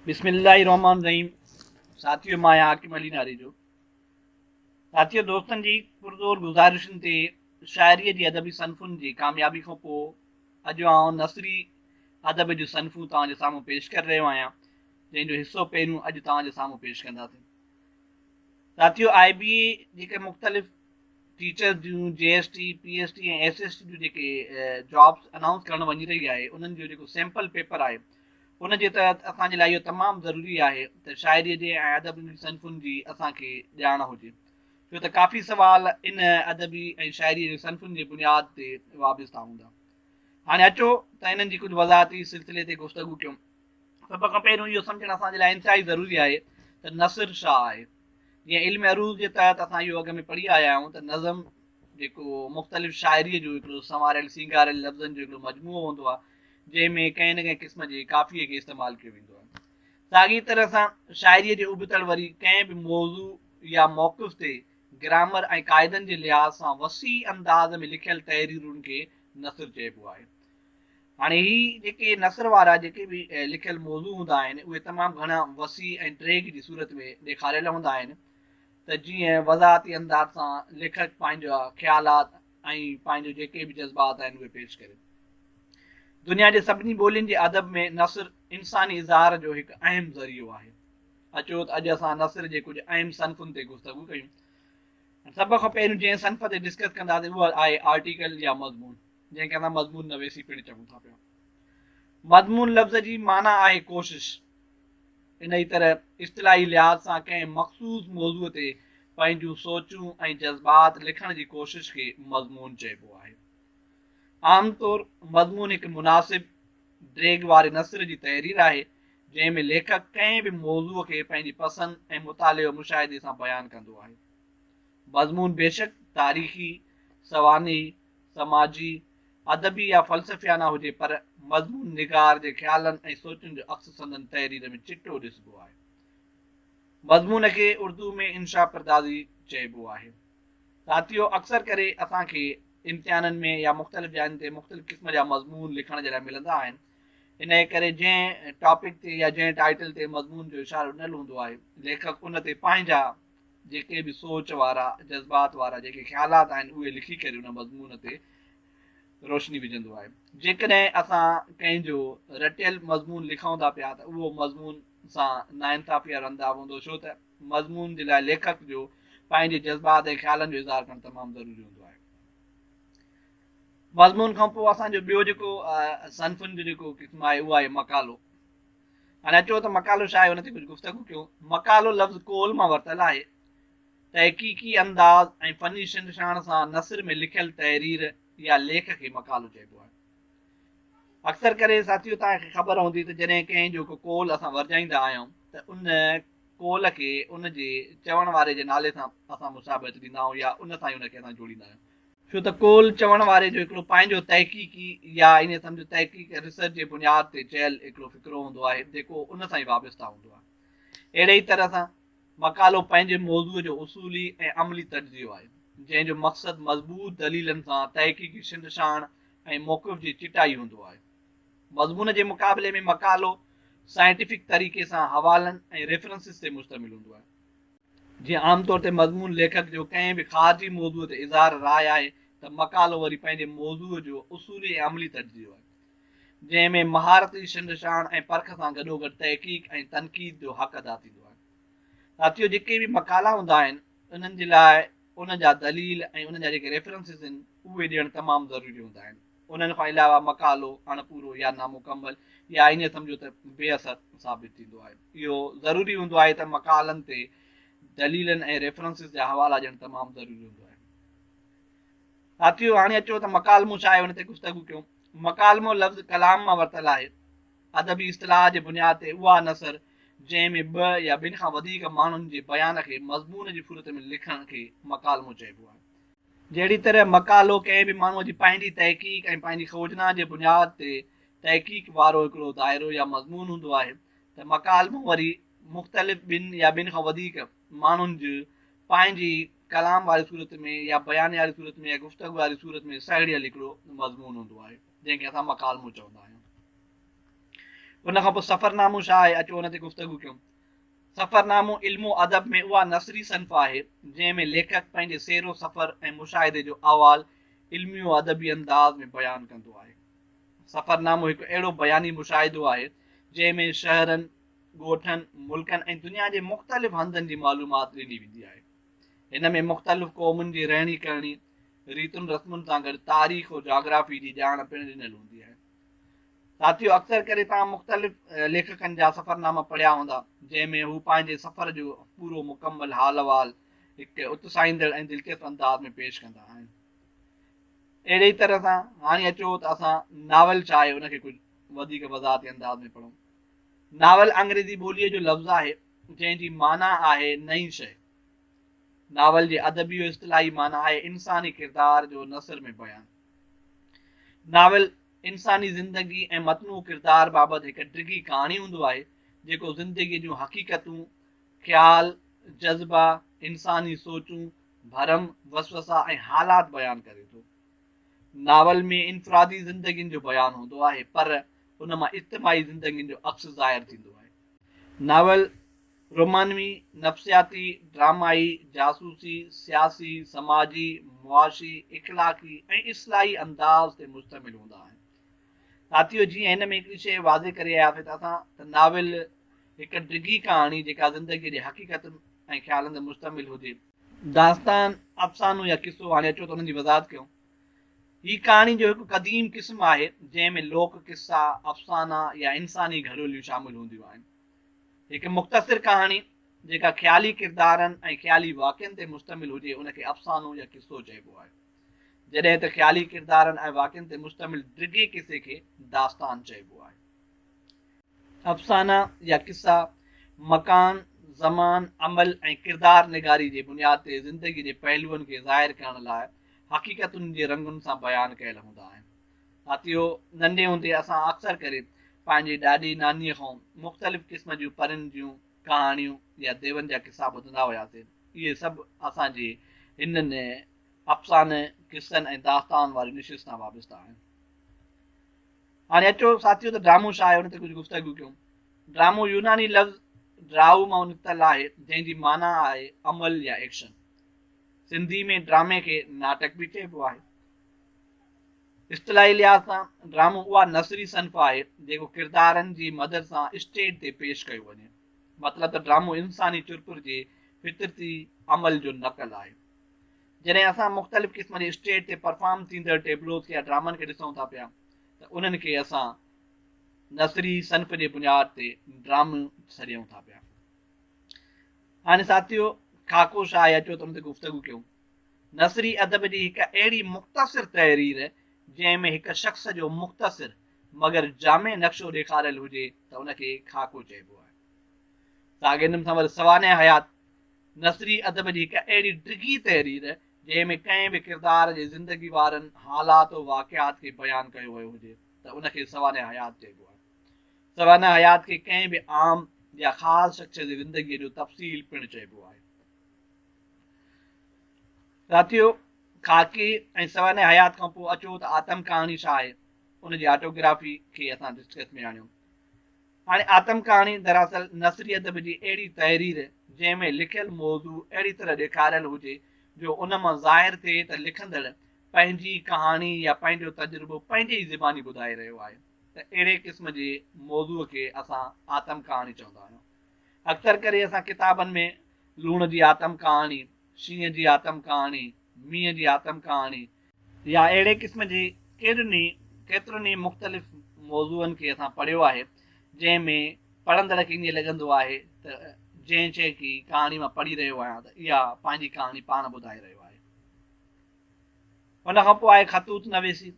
بسم الله الرحمن الرحيم ساٿيو مان آهيان حاڪم علي ناري جو ساٿيو دوستن جي پرزور گذارشن تي شاعري جي ادبي صنفن جي ڪاميابي کان پوء اڄ آئون نثري ادب جون صنفون توهان جي سامهون پيش ڪري رهيو آهيان جنهن جو حصو پهريون اڄ توهان جي سامهون پيش ڪنداسين ساٿيو آئي بي اي جيڪي مختلف ٽيچرز جون J S T P S T ۽ S S T جون جيڪي جابس انائونس ڪرڻ وڃي رهي آهي انهن جو جيڪو سيمپل پيپر آهي ان جي تحت اسان جي لاء اهو تمام ضروري آهي ته شاعريء جي ۽ ادب جي صنفن جي اسان کي ڄاڻ هجي، ڇو ته ڪافي سوال ان ادبي ۽ شاعريء جي صنفن جي بنياد تي وابسته هوندا. هاڻي اچو ته انهن جي ڪجهه وضاحتي سلسلي تي گفتگو ڪيون. سڀ کان پهريون اهو سمجهڻ اسان جي لاء انتهائي ضروري آهي ته نثر ڇا آهي؟ جيئن علم عروض جي تحت اسان اهو اڳ ۾ پڙهي آيا آهيون ته نظم جيڪو مختلف شاعريء جو هڪڙو سنواريل سينگاريل لفظن جو هڪڙو مجموعو هوندو آهي، جنهن ۾ ڪنهن نه ڪنهن قسم جي قافيي کي استعمال ڪيو ويندو آهي. ساڳيء طرح سان شاعريء جي ابتڙ وري ڪنهن به موضوع يا موقف تي گرامر ۽ قاعدن جي لحاظ سان وسيع انداز ۾ لکيل تحريرن کي نثر چئبو آهي. هاڻي هي جيڪي نثر وارا جيڪي به لکيل موضوع هوندا آهن، اهي تمام گهڻا وسيع ۽ ڊيگهه جي صورت ۾ ڏيکاريل هوندا آهن ته جيئن وضاحتي انداز سان ليکڪ پنهنجا خيالات، ۽ پنهنجو جيڪي به جذبات آهن اهي پيش ڪري ٿو. دنيا جي سڀني ٻولين جي ادب ۾ نثر انساني اظهار جو هڪ اهم ذريعو آهي. اچو ته اڄ اسان نثر جي ڪجهه اهم صنفن تي گفتگو ڪيون. سڀ کان پهريون جنهن صنف تي ڊسڪس ڪنداسين اهو آهي آرٽيڪل يا مضمون جنهن کي اسان مضمون نويسي پڻ چئون ٿا پيا. مضمون لفظ جي معنيٰ آهي ڪوشش. انهيء طرح اصطلاحي لحاظ سان ڪنهن مخصوص موضوع تي پنهنجون سوچون ۽ جذبات لکڻ جي ڪوشش کي مضمون چئبو آهي. عام طور مضمون هڪ مناسب ڊيگهه واري نثر جي تحرير آهي، جنهن ۾ ليکڪ ڪنهن به موضوع کي پنهنجي پسند ۽ مطالعي و مشاهدي سان بيان ڪندو آهي. مضمون بيشڪ تاريخي، سوانحي، سماجي، ادبي يا فلسفيانه هجي پر مضمون نگار جي خيالن ۽ سوچن جو عڪس سندن تحرير ۾ چٽو ڏسبو آهي. مضمون کي اردو ۾ انشا پردازي چئبو آهي. ساٿيو اڪثر ڪري اسان کي امتحانن ۾ يا مختلف جاين تي مختلف قسم جا مضمون لکڻ جي لاء ملندا آهن انهيء ڪري جنهن ٽاپڪ تي يا جنهن ٽائيٽل تي مضمون جو اشارو ڏنل هوندو آهي ليکڪ ان تي پنهنجا جيڪي به سوچ وارا، جذبات وارا جيڪي خيالات آهن اهي لکي ڪري ان مضمون تي روشني وجهندو آهي. جيڪڏهن اسان ڪنهن جو رٽيل مضمون لکون ٿا پيا ته اهو مضمون سان ناانصافي وارو انداز هوندو ڇو ته مضمون جي لاء ليکڪ جو پنهنجي جذبات ۽ خيالن جو اظهار ڪرڻ تمام ضروري هوندو آهي. مضمون کان پوء اسان جو ٻيو جيڪو صنفن جو جيڪو قسم آهي اهو آهي مقالو. هاڻي اچو ته مقالو ڇا آهي ان تي ڪجهه گفتگو ڪيون. مقالو لفظ قول مان ورتل آهي. تحقيقي انداز ۽ فني شنڊشاڻ سان نثر ۾ لکيل تحرير يا ليک کي مقالو چئبو آهي. اڪثر ڪري ساٿيو توهان کي خبر هوندي ته جڏهن ڪنهن جو ڪو قول اسان ورجائيندا آهيون ته ان قول کي ان جي چوڻ واري جي نالي سان اسان مشابهت ڏيندا آهيون يا ان سان ئي ان کي اسان جوڙيندا آهيون. ڇو ته قول چوڻ واري جو هڪڙو پنهنجو تحقيقي يا ائين سمجهه تحقيق ۽ ريسرچ جي بنياد تي چيل هڪڙو فقرو هوندو آهي جيڪو ان سان ئي وابسته هوندو آهي. اهڙي ئي طرح سان مقالو پنهنجي موضوع جو اصولي ۽ عملي تجزيو آهي جنهن جو مقصد مضبوط دليلن سان تحقيقي شنڊشاڻ ۽ موقف جي چٽائي هوندو آهي. مضمون جي مقابلي ۾ مقالو سائنٽيفڪ طريقي سان حوالن ۽ ريفرنسز تي مشتمل هوندو آهي. جيئن عام طور تي مضمون ليکڪ جو ڪنهن به خارجي موضوع تي اظهار راء آهي ته مقالو وري پنهنجي موضوع جو اصولي ۽ عملي تجزيو آهي، جنهن ۾ مهارتي شنڊشاڻ ۽ پرک سان گڏوگڏ تحقيق ۽ تنقيد جو حق ادا ٿيندو آهي. ساٿيو جيڪي به مقالا هوندا آهن انهن جي لاء ان جا دليل ۽ انهن جا جيڪي ريفرنسز آهن اهي ڏيڻ تمام ضروري هوندا آهن. انهن کان علاوه مقالو اڻ پورو يا نامڪمل يا ائين سمجهو ته بي اثر ثابت ٿيندو آهي. اهو ضروري هوندو آهي ته مقالن تي دليلن ۽ ريفرنسز جا حوالا ڏيڻ تمام ضروري هوندو آهي. ساٿيو! هاڻي اچو ته مڪالمو ڇا آهي ان تي گفتگو ڪيون. مڪالمو لفظ ڪلام مان ورتل آهي. ادبي اصطلاح جي بنياد تي اها نثر جنهن ۾ ٻه يا ٻن کان وڌيڪ ماڻهن جي بيان کي مضمون جي صورت ۾ لکڻ کي مڪالمو چئبو آهي. جهڙي طرح مقالو ڪنهن به ماڻهوء جي پنهنجي تحقيق ۽ پنهنجي کوجنا جي بنياد تي تحقيق وارو هڪڙو دائرو يا مضمون هوندو آهي ته مڪالمو وري مختلف ٻن يا ٻن کان وڌيڪ ماڻهن جي پنهنجي ڪلام واري صورت ۾ يا بيانيي واري صورت ۾ يا گفتگو واري صورت ۾ سهيڙيل هڪڙو مضمون هوندو آهي جنهن کي اسان مڪالمو چوندا آهيون. ان کان پوء سفرنامو ڇا آهي اچو ان تي گفتگو ڪيون. سفرنامو علم و ادب ۾ اها نثري صنف آهي، جنهن ۾ ليکڪ پنهنجي سير و سفر ۽ مشاهدي جو احوال علمي و ادبي انداز ۾ بيان ڪندو آهي. سفرنامو هڪ اهڙو بياني مشاهدو آهي، جنهن ۾ شهرن، ڳوٺن، ملڪن ۽ دنيا جي مختلف هنڌن جي معلومات ڏني ويندي آهي. هن ۾ مختلف قومن جي رهڻي ڪرڻي، ريتن رسمن سان گڏ تاريخ و جاگرافي جي ڄاڻ پڻ ڏنل هوندي آهي. ساٿيو اڪثر ڪري توهان مختلف ليکڪن جا سفرناما پڙهيا هوندا جنهن ۾ هو پنهنجي سفر جو پورو مڪمل حال احوال هڪ اتساهيندڙ ۽ دلچسپ انداز ۾ پيش ڪندا آهن اهڙي ئي طرح سان هاڻي اچو ته اسان ناول ڇا آهي ان کي ڪجهه وڌيڪ وضاحتي انداز ۾ پڙهون ناول انگريزي ٻوليء جو لفظ آهي جنهن جي معنيٰ آهي نئين شيء ناول جي ادبي اصطلاحي معنيٰ آهي انساني ڪردار جو نثر ۾ بيان ناول انساني زندگي ۽ متنوع ڪردار بابت هڪ ڊگهي ڪهاڻي هوندو آهي، جيڪو زندگي جون حقيقتون، خيال، جذبا، انساني سوچون، ڀرم، وسوسا ۽ حالات بيان ڪري ٿو. ناول ۾ انفرادي زندگين جو بيان هوندو آهي پر ان مان اجتماعي زندگين جو عڪس ظاهر ٿيندو آهي. ناول رومانوي نفسياتي، ڊرامائي، جاسوسي، سياسي، سماجي، معاشي، اخلاقي ۽ اصلاحي انداز تي مشتمل هوندا آهن. ساٿيو جيئن هن ۾ هڪڙي شيء واضح ڪري آيا پي اسان ته ناول هڪ ڊگهي ڪهاڻي جيڪا زندگيء جي حقيقتن ۽ خيالن تي مشتمل هجي، داستان، افسانو يا قصو هاڻي اچو ته انهن جي وضاحت ڪيون، هي ڪهاڻي جو هڪ قديم قسم آهي جنهن ۾ لوڪ قصا، افسانا يا انساني گهروليون شامل هونديون آهن. هڪ مختصر ڪهاڻي جيڪا خيالي ڪردارن ۽ خيالي واقعن تي مشتمل هجي ان کي افسانو يا قصو چئبو آهي جڏهن ته خيالي ڪردارن ۽ واقعن تي مشتمل ڊگهي قصي کي داستان چئبو آهي. افسانا يا قصا مڪان، زمان، عمل ۽ ڪردار نگاري جي بنياد تي زندگي جي پهلوئن کي ظاهر ڪرڻ لاء حقيقتن جي رنگن سان بيان ڪيل هوندا آهن. ڦاتيو، ننڍي هوندي اسان اڪثر ڪري پنهنجي ڏاڏي نانيء کان مختلف قسم جون پرين جون ڪهاڻيون يا ديون جا قصا ٻڌندا هياسين. اهي سڀ اسان جي هنن افسانه، قصن ۽ داستان واري نشست سان وابسته آهن. هاڻي اچو ساٿيو ته ڊرامو ڇا آهي ان تي ڪجهه گفتگو ڪيون. ڊرامو يوناني لفظ ڊرائو مان نڪتل آهي جنهن جي معنيٰ آهي عمل يا ايڪشن. سنڌي ۾ ڊرامي کي ناٽڪ به چئبو آهي. اصطلاحي لحاظ سان ڊرامو اها نثري صنف آهي جيڪو ڪردارن جي مدد سان اسٽيج تي پيش ڪيو وڃي. مطلب ته ڊرامو انساني چرپر جي فطرتي عمل جو نقل آهي. جڏهن اسان مختلف قسم جي اسٽيج تي پرفارم ٿيندڙ ٽيبلوز کي يا ڊرامن کي ڏسون ٿا پيا ته انهن کي اسان نثري صنف جي بنياد تي ڊرامو سڏيون ٿا پيا. هاڻي ساٿيو خاڪو شاهه اچو ته ان تي گفتگو ڪيون. نثري ادب جي هڪ اهڙي مختصر تحرير جنهن ۾ هڪ شخص جو مختصر مگر جامع نقشو ڏيکاريل هجي ته ان کي خاڪو چئبو آهي. ساڳين سنور سوانح حيات نثري ادب جي هڪ اهڙي ڊگهي تحرير جنهن ۾ ڪنهن به ڪردار جي زندگي وارن حالات و واقعات کي بيان ڪيو ويو هجي ته ان کي سوانح حيات چئبو آهي. سوانح حيات کي ڪنهن به عام يا خاص شخص جي زندگيء جو تفصيل پڻ چئبو آهي. ساٿيو! خاڪي ۽ سوانح حيات کان پوء اچو ته آتم ڪهاڻي ڇا آهي؟ ان جي آٽوگرافي کي اسان ڊسڪس ۾ آڻيو. هاڻي آتم ڪهاڻي دراصل نثري ادب جي اهڙي تحرير جنهن ۾ لکيل موضوع اهڙي طرح ڏيکاريل هجي جو ان مان ظاهر ٿئي ته لکندڙ پنهنجي ڪهاڻي يا پنهنجو تجربو پنهنجي ئي زباني ٻڌائي رهيو آهي ته اهڙي قسم جي موضوع کي اسان آتم ڪهاڻي چوندا آهيون. اڪثر ڪري اسان ڪتابن ۾ لوڻ جي آتم ڪهاڻي، شينهن جي آتم ڪهاڻي، مينهن جي آتم ڪهاڻي، يا اهڙي قسم جي ڪيڏن ئي ڪيترن ئي مختلف موضوعن کي اسان پڙهيو آهي جنهن ۾ پڙهندڙ کي ائين لڳندو آهي ته جنهن شيء کي ڪهاڻي مان پڙهي رهيو آهيان ته اها پنهنجي ڪهاڻي پاڻ ٻڌائي رهيو آهي. ان کان پوء آهي خطوط نويسي.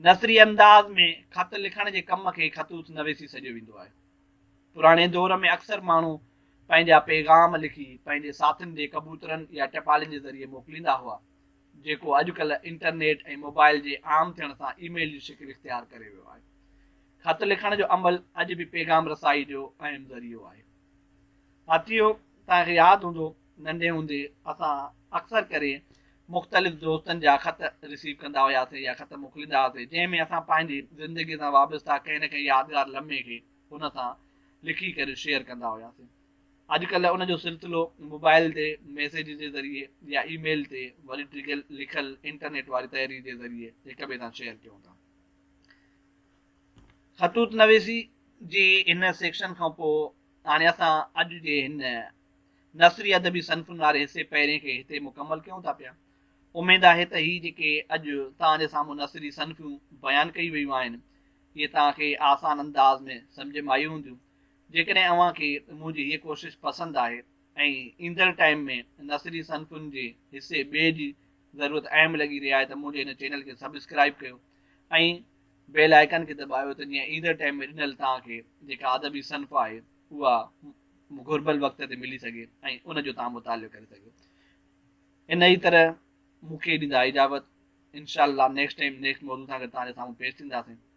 نثري انداز ۾ خط لکڻ جي ڪم کي خطوط نويسي سڏيو ويندو آهي. پراڻي دور ۾ اڪثر ماڻهو پنهنجا پيغام لکي پنهنجي ساٿين ڏي ڪبوترن يا ٽپالين جي ذريعي موڪليندا هئا، جيڪو اڄڪلهه انٽرنيٽ ۽ موبائل جي عام ٿيڻ سان اي ميل جي شڪل اختيار ڪري ويو آهي. خط لکڻ جو عمل اڄ به پيغام رسائي جو اهم ذريعو آهي. ساٿيو! توهان کي ياد هوندو ننڍي هوندي اسان اڪثر ڪري مختلف دوستن جا خط رسيو ڪندا هياسين يا خط موڪليندا هئاسين جنهن ۾ اسان پنهنجي زندگي سان وابسته ڪنهن نه ڪنهن يادگار لمحي کي هن سان لکي ڪري شيئر ڪندا هياسين اڄڪلهه ان جو سلسلو موبائل تي ميسيج جي ذريعي يا اي ميل تي وري ڊگهي لکيل انٽرنيٽ واري تحرير جي ذريعي هڪ ٻئي سان شيئر ڪيون ٿا. خطوط نويسي جي هن سيڪشن کان پوء هاڻي اسان اڄ جي هن نثري ادبي صنفن واري حصي پهرين کي هتي مڪمل ڪيون ٿا پيا. اميد آهي ته هي جيڪي اڄ توهان جي سامهون نثري صنفيون بيان ڪيون ويون آهن اهي توهان کي آسان انداز ۾ سمجهه ۾ آيون هونديون. جيڪڏهن اوهان کي منهنجي هيء ڪوشش پسند آهي ۽ ايندڙ ٽائيم ۾ نثري صنفن جي حصي ٻئي جي ضرورت اهم لڳي رهي آهي ته منهنجي هن چينل کي سبسڪرائيب ڪيو ۽ بيل آئيڪان کي دٻايو ته جيئن ايندڙ ٽائيم ۾ ڏنل توهان کي جيڪا ادبي صنف آهي اها گهربل وقت تي ملي سگهي ۽ ان جو توهان مطالعو ڪري سگهيو ان ئي طرح مون کي ڏيندا اجابت انشاء الله نيڪسٽ ٽائيم نيڪسٽ موضوع سان گڏ توهان جي سامهون پيش ٿينداسين